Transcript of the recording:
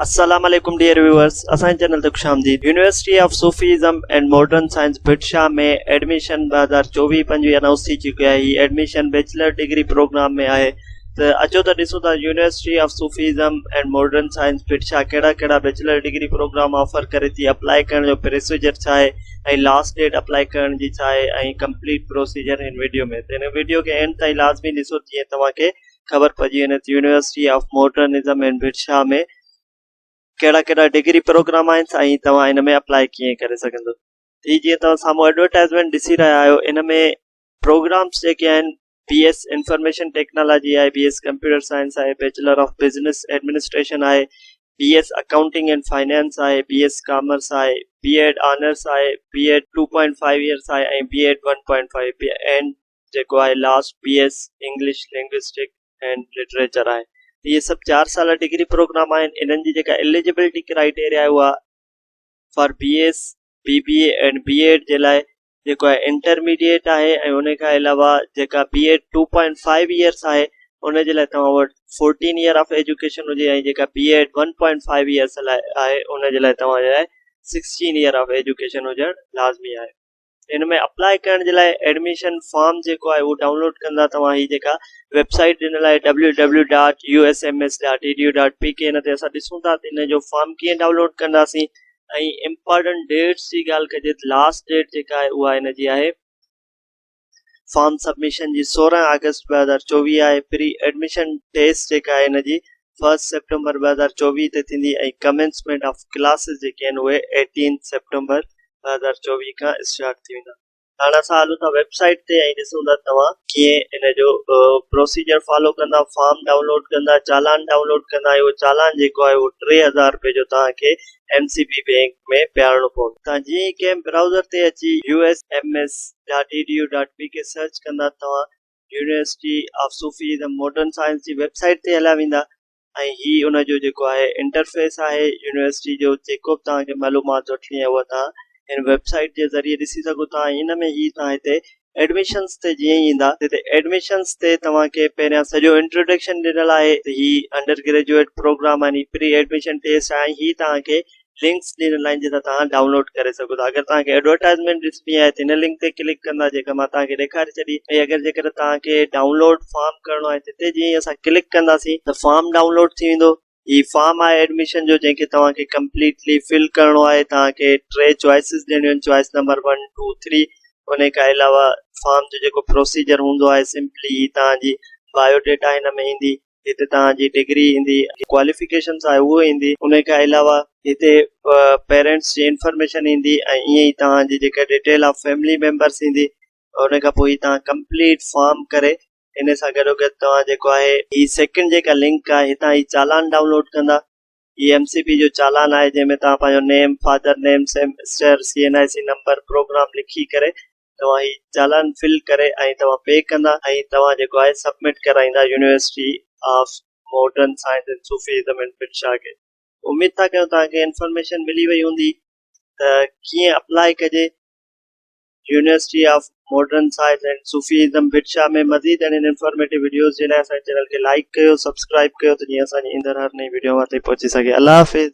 السلام عليڪم dear viewers اسان جي چينل تي خوش آمديد university of Sufism and modern science Bhitshah ۾ admission ٻه هزار چوويهه پنجويهه انائونس ٿي چڪي آهي هي ايڊميشن بيچلر ڊگري پروگرام ۾ آهي ته اچو ته ڏسو ته university of Sufism and modern science Bhitshah ڪهڙا ڪهڙا بيچلر ڊگري پروگرام آفر ڪري ٿي اپلاء ڪرڻ جو پروسيجر ڇا آهي ۽ لاسٽ ڊيٽ اپلاء ڪرڻ جي ڇا آهي ۽ ڪمپليٽ پروسيجر هن ويڊيو ۾ هن ويڊيو کي اينڊ تائين لازمي ڏسو جيئن توهان کي خبر پئجي وڃي ته يونيورسٽي آف ماڊرنزم اينڊ برڇا ۾ ڪهڙا ڪهڙا ڊگري پروگرام آهن ۽ توهان ان ۾ اپلائي ڪيئن ڪري سگهندو هي جيئن توهان سامهون ايڊورٽائزمينٽ ڏسي رهيا آهيو ان ۾ پروگرامس جيڪي آهن بي ايس انفارميشن ٽيڪنالاجي آهي بي ايس ڪمپيوٽر سائنس آهي بيچلر آف بزنس ايڊمنسٽريشن آهي B S accounting and finance آهي بي ايس ڪامرس آهي بي ايڊ آنرس آهي B Ed two point five years آهي ۽ B Ed one point five B and جيڪو آهي last B S English linguistic and literature آهي ته اهي سڀ چار سالا ڊگري پروگرام آهن انهن جي جيڪا ايليجبلٽي ڪرائيٽيريا آهي اها for B S B B A and B Ed جي لاء جيڪو آهي انٽرميڊيٽ آهي ۽ ان کان علاوه جيڪا B Ed two point five years آهي ان جي لاء توهان وٽ فورٽين ايئر آف ايجوڪيشن هجي ۽ جيڪا B Ed one point five years لاء آهي ان جي لاء توهان جي لاء سڪسٽين ايئر آف ايجوڪيشن هجڻ لازمي آهي ان ۾ اپلاء ڪرڻ جي لاء ايڊميشن فارم جيڪو آهي اهو ڊائونلوڊ ڪندا توهان هي جيڪا ويب سائيٽ ڏنل آهي www.usms.edu.pk ان تي اسان ڏسون ٿا ته ان جو فارم ڪيئن ڊائونلوڊ ڪنداسين ۽ امپارٽنٽ ڊيٽس جي ڳالهه ڪجي ته لاسٽ ڊيٽ جيڪا آهي اها ان جي آهي فارم سبمشن جي سورهن آگسٽ ٻه هزار چوويهه آهي پري ايڊميشن ٽيسٽ جيڪا آهي ان جي فرسٽ سيپٽمبر ٻه هزار چوويهه تي ٿيندي ۽ ڪمينسمينٽ آف ڪلاسز جيڪي آهن اهي ايٽين سيپٽمبر ٻه هزار چوويهه کان اسٽارٽ ٿي ويندا. هاڻ اسان هلون ٿا ويب سائيٽ تي ۽ ڏسون ٿا توهان ڪيئن ان جو پروسيجر فالو ڪندا فارم ڊائونلوڊ ڪندا چالان ڊائونلوڊ ڪندا ۽ اهو چالان جيڪو آهي اهو ٽي هزار رپئي جو توهان کي ايم سي بي بينڪ ۾ پيارڻو پوندو توهان جيئن ئي ڪنهن براوزر تي اچي U S M S dot E D U dot B کي سرچ ڪندا توهان University of Sufi ۽ modern science جي ويب سائيٽ تي هليا ويندا ۽ هي ان جو جيڪو آهي انٽرفيس آهي يونيورسٽي جو جيڪو به توهان کي معلومات وٺڻي آهي اها توهان هن ويب سائيٽ جي ذريعي ڏسي سگهو ٿا ۽ ان ۾ هي توهان هتي ايڊميشنس تي جيئن ئي ايندا ته هتي ايڊميشنس تي توهان کي پهريان سڄو انٽروڊڪشن ڏنل آهي ته هي انڊر گريجوئيٽ پروگرام يعني پري ايڊميشن ٽيسٽ آهي ۽ هي توهان کي لنڪس ڏنل آهن جتان توهان ڊائونلوڊ ڪري سگهو ٿا اگر توهان کي ايڊورٽائزمينٽ ڏسڻي آهي ته هن لنڪ تي ڪلڪ ڪندا جيڪا مان توهان کي ڏيکاري ڇڏي ۽ اگر جيڪڏهن توهان کي ڊائونلوڊ فارم ڪرڻو آهي تتي جيئن ئي اسان ڪلڪ ڪنداسين ته فارم ڊائونلوڊ ٿي ويندو هي فارم آهي ايڊميشن جو جنهن کي توهان کي ڪمپليٽلي فل ڪرڻو آهي توهان کي ٽي چوائسز ڏيڻيون آهن choice number one two three انهي کان علاوه فارم جو جيڪو پروسيجر هوندو آهي سمپلي هي توهان جي بايو ڊيٽا هن ۾ ايندي هتي توهان جي ڊگري ايندي، ڪواليفڪيشنز آهي اهو ايندي، ان کان علاوه هتي پيرينٽس جي انفارميشن ايندي ۽ ائين ئي توهان جي جيڪا ڊيٽيل آف فيملي ميمبرس ايندي ان کان پوء هي توهان ڪمپليٽ فارم ڪري ان سان گڏو گڏ توهان جيڪو آهي هي سيڪنڊ جيڪا لنڪ آهي هتان هي چالان ڊائونلوڊ ڪندا هي ايم سي پي جو چالان آهي جنهن ۾ توهان پنهنجو name, father name, semester, C N I C number, programme لکي ڪري توهان هي چالان فل ڪري ۽ توهان پي ڪندا ۽ توهان جيڪو آهي سبمٽ ڪرائيندا University of modern science and Sufism and پنشا کي. اميد ٿا ڪيون توهان کي انفارميشن ملي وئي هوندي ته ڪيئن اپلاء ڪجي University of modern science and Sufism Bhitshah ۾ مزيد اهڙين انفارميٽو وڊيوز جي لاء اسان جي چينل کي لائيڪ ڪيو سبسڪرائيب ڪيو ته جيئن اسان جي ايندڙ هر نئين وڊيو اوهان تائين پهچي سگهي الله حافظ